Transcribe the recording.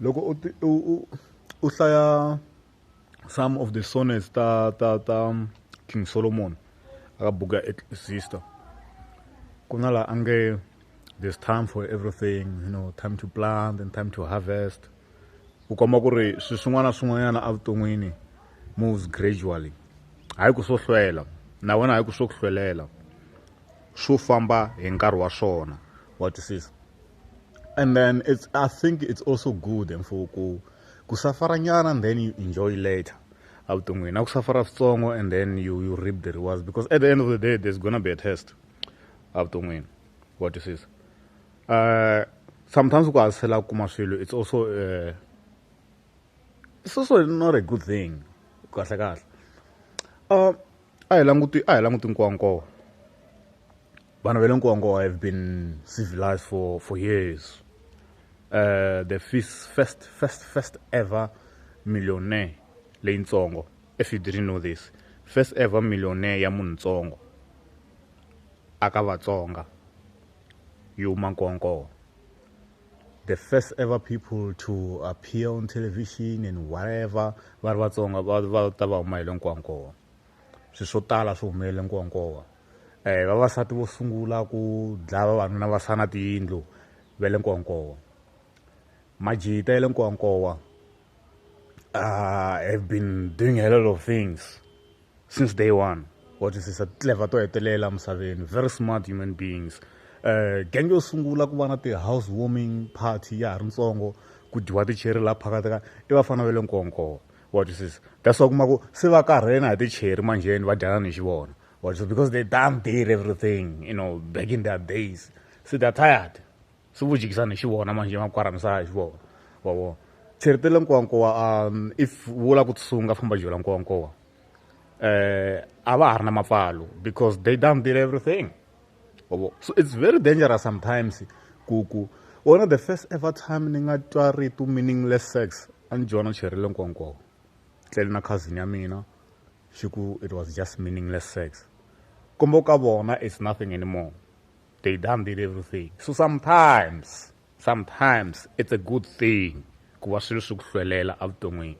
loko u ti u u u hlaya some of the sonnets ta ta ta king solomon aka buku ya sister ku na laha a nge there's time for everything you know time to plant and time to harvest ku komba ku ri swi swin'wana na swin'wanyana evuton'wini moves gradually hayi ku swo hlwela na wena hayi ku swo ku hlwelela swo famba hi nkarhi wa swona wa twisisa and then it's i think it's also good and for ku ku safara nyana and then you enjoy later avuton'wini na ku safara switsongo and then you, you reap the rewards because at the end of the day there's gonna be a test avuton'wini wa twisisa uh, sometimes ku hasela ku kuma swilo it's also uh, it's also not a good thing kahle kahle uh, a hi languti a hi languti nkowankowa vanhu va le nkowankowa have been civilized for for years uh, the first first first first ever millionaire leyitsongo if you didn't know this first ever millionaire ya munhu ntsongo aka vatsonga yi huma nkowankowa the first ever people to appear on television and whatever va ri vatsonga va va ta va humayele nkowankowa swi swo tala swi humelele nkowankowa um eh, vavasati vo sungula ku dlaya vavanuna va sana tiyindlu va le nkowankowa majita ya le nkowankowa uh, have been doing a lot of things since day one what is this a clever to hetelela misaveni very smart human beings uh, gang yo sungula ku va na ti-house warming party ya ha ri ntsongo ku dyiwa ticheri laha phakathi ka i vafana va le nkonkowa what is this that's why kuma ku se va karhena hi ticheri manjheni va dyana ni xi vona what is this because they done did everything you know back in their days so they're tired swi vu jikisa ni xi vona manjhe va kwara misava hi vona wa vona tsheritele nkowankowa um if wu lava ku tsunga famba jola nkowankowa um a va ha ri na mapfalo because they done did everything wa vona so it's very dangerous sometimes ku ku wona the first ever time ni nga twa ritu meaningless sex a ni dyona cherile nkowankowa tlele na cousin ya mina xi ku it was just meaningless sex kombo ka vona it's nothing anymore They done did everything. So sometimes, sometimes it's a good thing ku va swilo swi ku hlwelela evuton'wini.